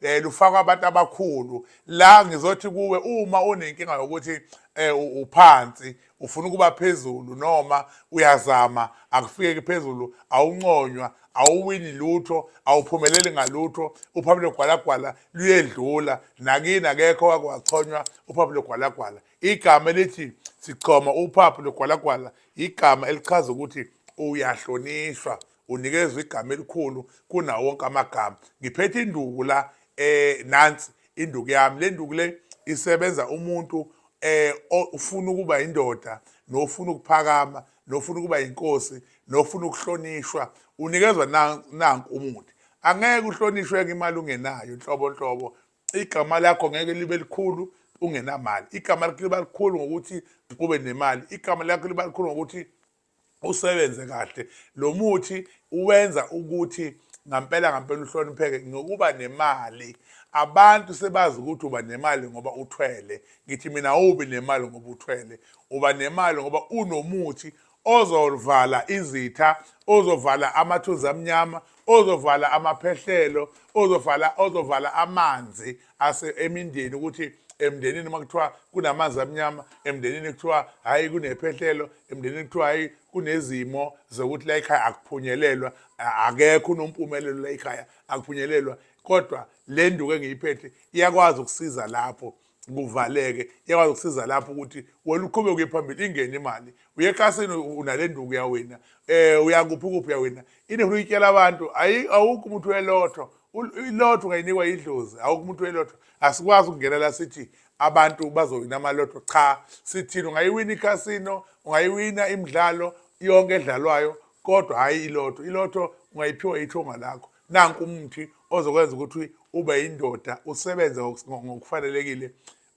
eh lufakwa abantu abakhulu la ngizothi kuwe uma unenkinga yokuthi eh uphansi ufuna ukuba phezulu noma uyazama akufike phezulu awunconywa awuwini lutho awuphumeleli ngalutho uphaphu logwalagwala luyedlula nakini akekho wake wachonywa uphaphu logwalagwala igama elithi sichoma uphaphu logwalagwala igama elichaza ukuthi uyahlonishwa unikezwe igama elikhulu kunawo wonke amagama ngiphethe induku la eh nansi induku yami le nduku le isebenza umuntu eh ufuna ukuba indoda nofuna ukuphakama nofuna ukuba inkosi nofuna ukuhlonishwa unikezwa nanku umuthi angeke uhlonishwe ngemali ungenayo nhlobo nhlobo igama lakho ngeke libe likhulu ungenamali igama lakho liba likhulu ngokuthi ube nemali igama lakho liba likhulu ngokuthi usebenze kahle lo muthi uwenza ukuthi ngampela ngampela uhlonipheke ngokuba nemali abantu sebazi ukuthi uba nemali ngoba uthwele ngithi mina awubi nemali ngoba uthwele uba nemali ngoba unomuthi ozovala izitha ozovala amathunzi amnyama ozovala amaphehlelo ozovala ozovala amanzi ase emindeni ukuthi emndenini uma kuthiwa kunamanzi amnyama emndenini kuthiwa hhayi kunephehlelo emndenini kuthiwa hhayi kunezimo zokuthi la ekhaya akuphunyelelwa akekho unompumelelo la ekhaya akuphunyelelwa kodwa le nduku engiyiphethe iyakwazi ukusiza lapho kuvaleke iyakwazi ukusiza lapho ukuthi wena uqhube kuye phambili ingene imali uyekasini unale nduku yawena um eh, uyakuphi kuphi yawena inehulu ityela abantu awukho umuntu welotho ilotho ungayinikwa idlozi awukho umuntu welotho asikwazi ukungena la sithi abantu bazowina amalotho cha sithini ungayiwina icasino ungayiwina imidlalo yonke edlalwayo kodwa hhayi ilotho ilotho ungayiphiwa ithonga lakho nanku umuthi ozokwenza ukuthi ube yindoda usebenze ngokufanelekile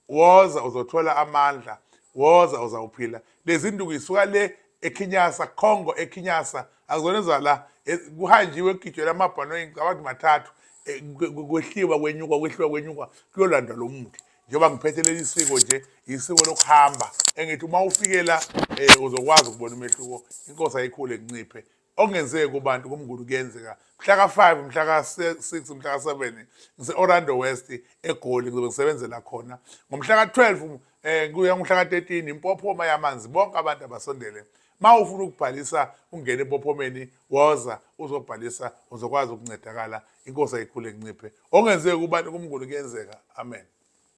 woza uzothola amandla woza uzawuphila lezi nduku isuka le ekhinyasa congo ekhinyasa akuzona ezala e, kuhanjiwe kugijwela amabhanoyi ngicabanga ukuthi mathathu e, kwehliwa kwenyuka kwehliwa kwenyuka kuyolandwa lo muthi njengoba ngiphethe leli siko nje isiko lokuhamba engithi uma ufike la um uzokwazi ukubona umehluko inkosi ayikhule nginciphe okungenzeki kubantu kumnguni kuyenzeka mhla ka-5 mhla ka-6 mhla ka-7 ngise-orlando west egoli ngizobe ngisebenzela khona ngomhla ka-12 um eh, kuya ngomhla ka-13 impophoma yamanzi bonke abantu abasondele ma ufuna ukubhalisa ungene empophomeni woza uzobhalisa uzokwazi ukuncedakala inkosi ayikhule nginciphe okungenzeki kubantu kumnguni kuyenzeka amen